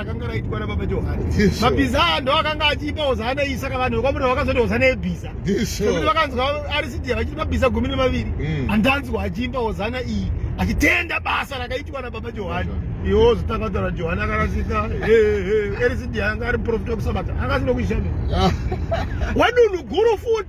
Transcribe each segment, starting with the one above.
akanga raitwa nababa johani mabhiza aya ndo akanga achipa hozana iyi saka vanhu vekwamuri vakazoti hozana yebhiza nekuti vakanzwa arisidia vachiti mabhiza gumi nemaviri mm. handanzwa achiimba hozana iyi achitenda basa rakaitwa nababa johani iwo zvitakatara johani akarasika erisidia anga ari muprofita wekusabata akasinokuishamira wadunhu guru futi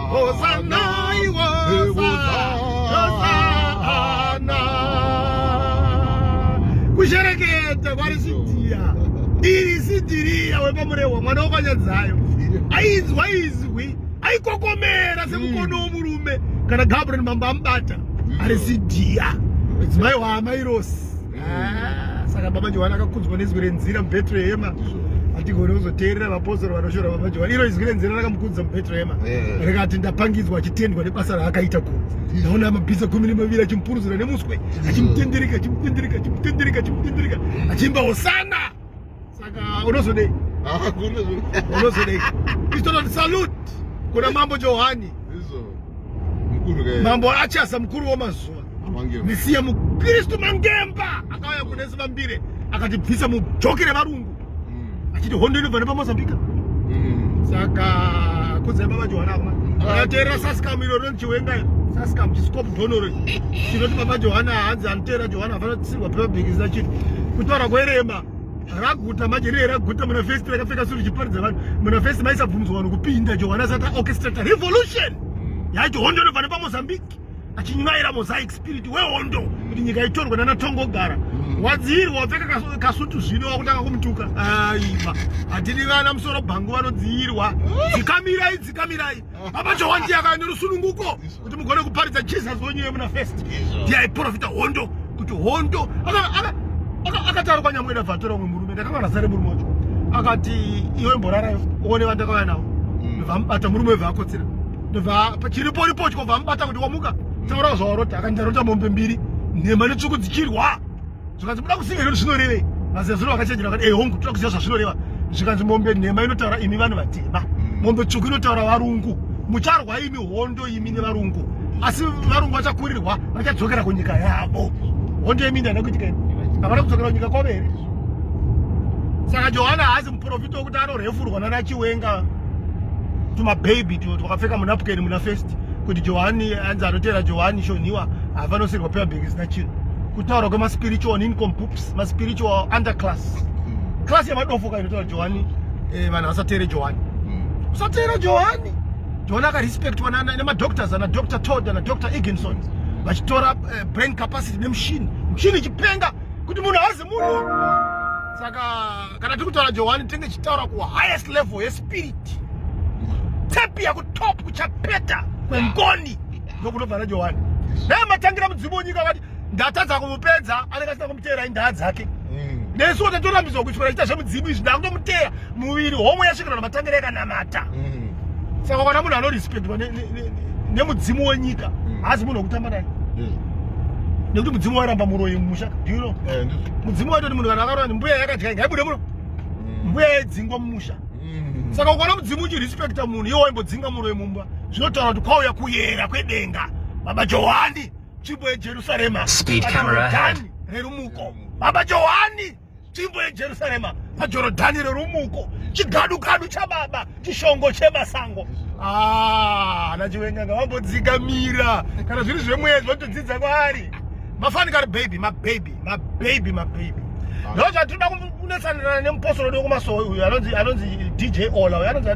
kushereketa kwari sidiya iri sidiriya wepamurehwa mwana wokanyadzayo ainzwa izwi aikokomera semukono mm. womurume kana gabriel mambo amubata mm. ari sidiya mudzimai waamairosi Ah, saka baba johani akakudzwa nezwi renzira mubetrehema hatigoni kuzoteerera vapostori vanoshora baba johani iro izwi renzira rakamukudza mubetrehema eh. rikati ndapangidzwa achitendwa nebasa raakaita ku ndaona amabhiza gumi nemaviri achimupuruzira nemuswe achimutendereka achimutendereka achimutendereka achimutendereka achiimba hosana Saka unozodei? Ah, unozodei? Istoto salute kuna Mambo Johani. Izo. Mkuru gaya. Mambo achasa mkuru wa mazuwa. Mangemba. Nisiye mkristu Mangemba akauya kuna Yesu Mambire akatibvisa mujokere varungu. Mm. Achiti hondo inobva nepamozambika. Mm. Saka kudzai baba Johani akuma. Akateera saskamu iro rinoti chiwenga iro. Saskamu chisikopu dhonoro. Chinoti baba Johani hanzi anoteera Johani afana kusirwa pepa bhikisi na chiri. Kutaura kwerema. raguta manje riye raguta muna vhesi rakapfeka suri chiparidza vanhu muna vhesi maisabvunzwa vanhu kupinda johana asati aorchestrata revolution yacho hondo inobva nepamozambique achinyaira mosaic spirit wehondo kuti nyika itorwe nana tongo gara mm. wadziirwa wapfeka kasutu zvino wakutanga kumutuka aiva hatidi vana musoro bhangu vanodziirwa mm. dzikamirai dzikamirai Baba Johwani yaka nerusununguko kuti mugone kuparidza Jesus wenyu yemuna first. Ndiye aiprofita hondo kuti hondo akataura kwanyamwena bvatora umwe murume ndakanga ndasare murume wacho akati iwe mborarayo uone vandakauya navo mm. vamubata murume wevaakotsera chiripo ripo chikobva amubata kuti wamuka taura zvawarota akati ndarota mombe mbiri nhema netsvuku dzichirwa zvikanzi muda kuziva here kuti zvinorevei mazezuro vakachenjera vakati ehongu eh, toda kuziva zvazvinoreva zvikanzi mombe nhema inotaura imi vanhu vatema mm. mombe tsvuku inotaura varungu mucharwa imi hondo imi nevarungu asi varungu vachakurirwa vachadzokera kunyika yavo hondo yemi ndana kuitika imi havana kudzokera kunyika kwavo here saka johana haazi muprofita wekuti anorhefurwa nana chiwenga tumabhabhi twakapfeka munapukeni muna festi kuti johani anzi anoteera johani shonhiwa havanosirwa pebabheki zina chinhu kutaura kwemaspiritual nini compups maspiritual underclass hmm. class yemadofo kainotaura johani eh, vanhu vasateere johani hmm. usateere johani johani akarespectwa nemadoctors ana dr todd ana dr eginson vachitora eh, brain capacity nemushini mushini ichipenga kuti munhu haazi munhu saka kana tiri kutaura johani tinenge tichitaura kuhighest level yespirit tepi yakutop kuchapeta kwengoni ndokunobva najohani dai matangira mudzimu wenyika vati ndatadza kumupedza anenge asina kumuteera indaa dzake hmm. nesu wote torambidzwa kuti chiita zvemudzimu izvi ndakutomuteera muviri homwe yasvikira namatangiro yakanamata hmm. saka kana munhu anorespectwa nemudzimu wenyika hmm. haazi munhu wekutamba naye nekuti mudzimu wairamba muroyi mumusha dino eh, mudzimu waitoti munhu kana akarora mbuya yakadya inga ibude muno mbuya yaidzingwa mumusha saka ukaona mudzimu uchirespecta munhu iwo waimbodzinga muroyi mumba zvinotaura kuti kwauya kuyera kwedenga baba johani tsvimbo yejerusarema pajorodhani rerumuko baba johani tsvimbo yejerusarema pajorodhani rerumuko chigadukadu chababa chishongo chemasango ah, ana chiwenga ngavambodzikamira kana zviri zvemwedzi votodzidza kwaari mafanikari baby mababy mababy mababy ah. no chatinoda kunetsanirana nemuposoro wedu wekumasowe uyu anonzi anonzi dj ola uyu anonzi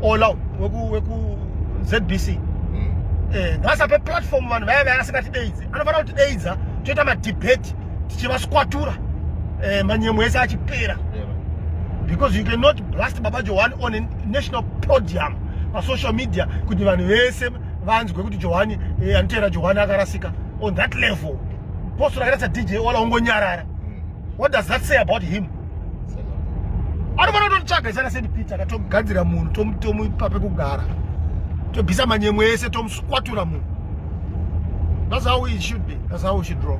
ola weku weku zbc hmm. eh ngasape platform vanhu vaya vaya asingatideidze anofanira kuti deidza toita madebate tichivaswatura eh manyemo ese achipera because you cannot blast baba johani on a national podium pasocial media kuti vanhu vese vanzwe kuti johani eh, anotera johani akarasika on that level Apostle akaita sa DJ Ola ongonyarara. Mm. What does that say about him? Anofanira kutotsvaga isana Saint Peter katogadzira munhu tomupa pekugara. Tobvisa manyemwe ese tomusukwatura munhu. That's how it should be. That's how we should draw.